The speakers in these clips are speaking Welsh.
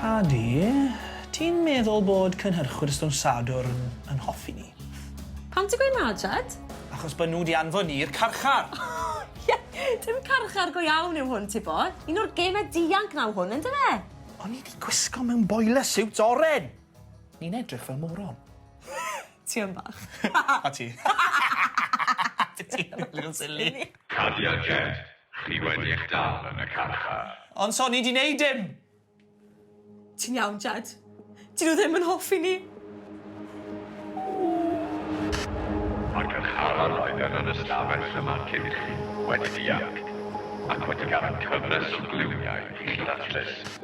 Paddy, ti'n meddwl bod cynhyrchwyr Stwm Sadwrn yn hoffi ni? Pam ti'n gweud na, Jed? Achos bod nhw wedi anfon ni i'r carchar! Ie, dim carchar go iawn yw hwn, ti bo. Un o'r gemau dianc naw hwn, ynddo fe? O'n i 'di gwisgo mewn boiler suit oren! Ni'n edrych fel moron. Ti yn bach. A ti. Ti ti yn little silly. Cadia Jed, chi wedi eich dal yn y carchar. Ond so ni di neud dim! Ti'n iawn, Jed? Dyn nhw ddim yn hoffi ni. Mae'r carcharor oedd yn yr ystafell yma cyn chi wedi dianc, ac wedi gadael cyfres o gluniau i chi ddatrys.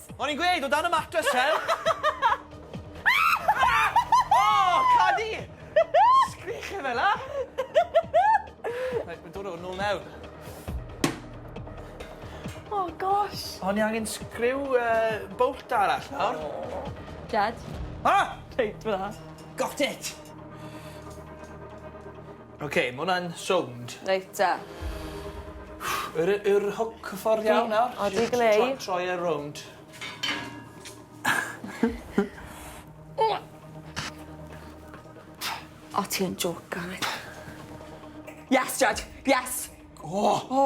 O'n i'n gweud, o dan y matres Sel! O! Cadi! Sgwîch e fela! Reit, mae'n dod o nôl mewn. O, gosh! O'n i angen sgriw yy bolt arall nawr. Jed? Ah! Reit, fela. Got it! Ok, ma' wnna'n sownd... Reit 'te. Yr yy yw'r hwc y ffordd iawn nawr? O digon ey. Js tro- troi e rownd. O ti yn jocan wyt. Yes Jaj yes. O! O!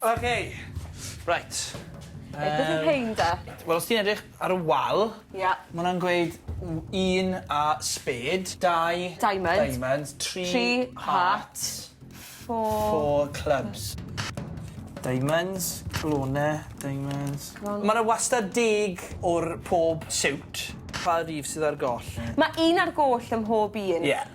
Ok. Reit. Yy. Be' 'di rhein de? Wel os ti'n edrych ar y wal... Ia. ...ma' wnna'n gweud w- un a spêd, dau... Diamond. ...diamond, tri... Tri heart. ...heart. Four... Four clubs. Diamonds, clone, diamonds. Clone. Ma' 'na wastad deg o'r pob siwt. Pa rif sydd ar goll? Ma' un ar goll ym mhob un. Ie.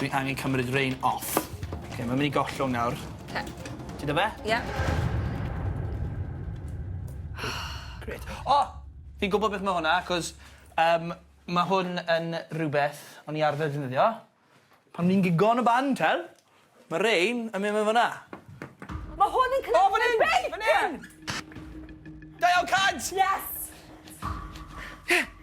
Dwi angen cymryd rein off. Oce mae'n myn' i gollwng nawr. Oce. Ti 'da fe? Ie. Grêt. O! Fi'n gwbo beth ma' hwnna 'c'os yym ma' hwn yn rwbeth o'n i arfer defnyddio pan o'n i'n gigo yn y band t'wel'? Ma' rein yn myn' mewn fyn 'na. Ma' hwn yn cnyddu dy beic! O fyn 'yn! Fyn 'yn! Dau o cant! Yes! Ffyc. Ie.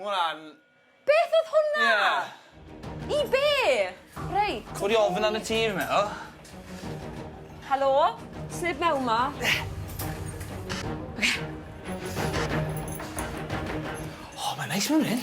Ma' wnna'n... Beth odd hwnna? Ie. I be? Reit. Codi ofn arno ti fi meddwl. Helo? Sneb mewn 'ma? Oce. O ma'n neis mewn 'yn.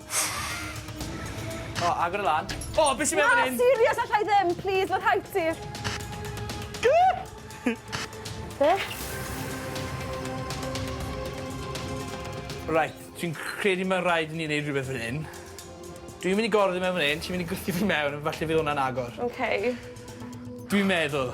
O, oh, agor y lan. O, oh, beth sy'n meddwl hyn? Na, serious, allai ddim. Please, fod haid ti. Be? Right, dwi'n credu mae'n rhaid i ni wneud rhywbeth fan hyn. Dwi'n mynd i gorfod i mewn fan hyn, ti'n mynd i gwrthio fi mewn, falle fydd hwnna'n agor. OK. Dwi'n meddwl.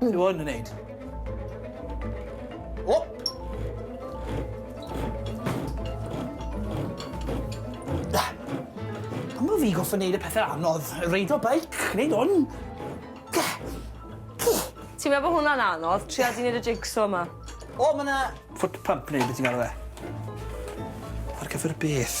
Ti fod yn neud? O! Da. Pam bod fi goffa neud y pethau anodd? Reidio beic, neud hwn. Ti'n meddwl bod hwnna'n anodd? Tria di neud y jigsaw yma. O, mae yna... Foot pump neu beth ti'n galw fe. Ar gyfer beth?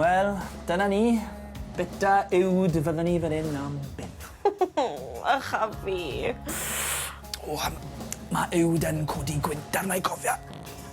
Wel, dyna ni. Bita uwd fydden ni fan 'yn am byth. Ych a fi. O yym ma' uwd yn codi gwynt arna i cofia.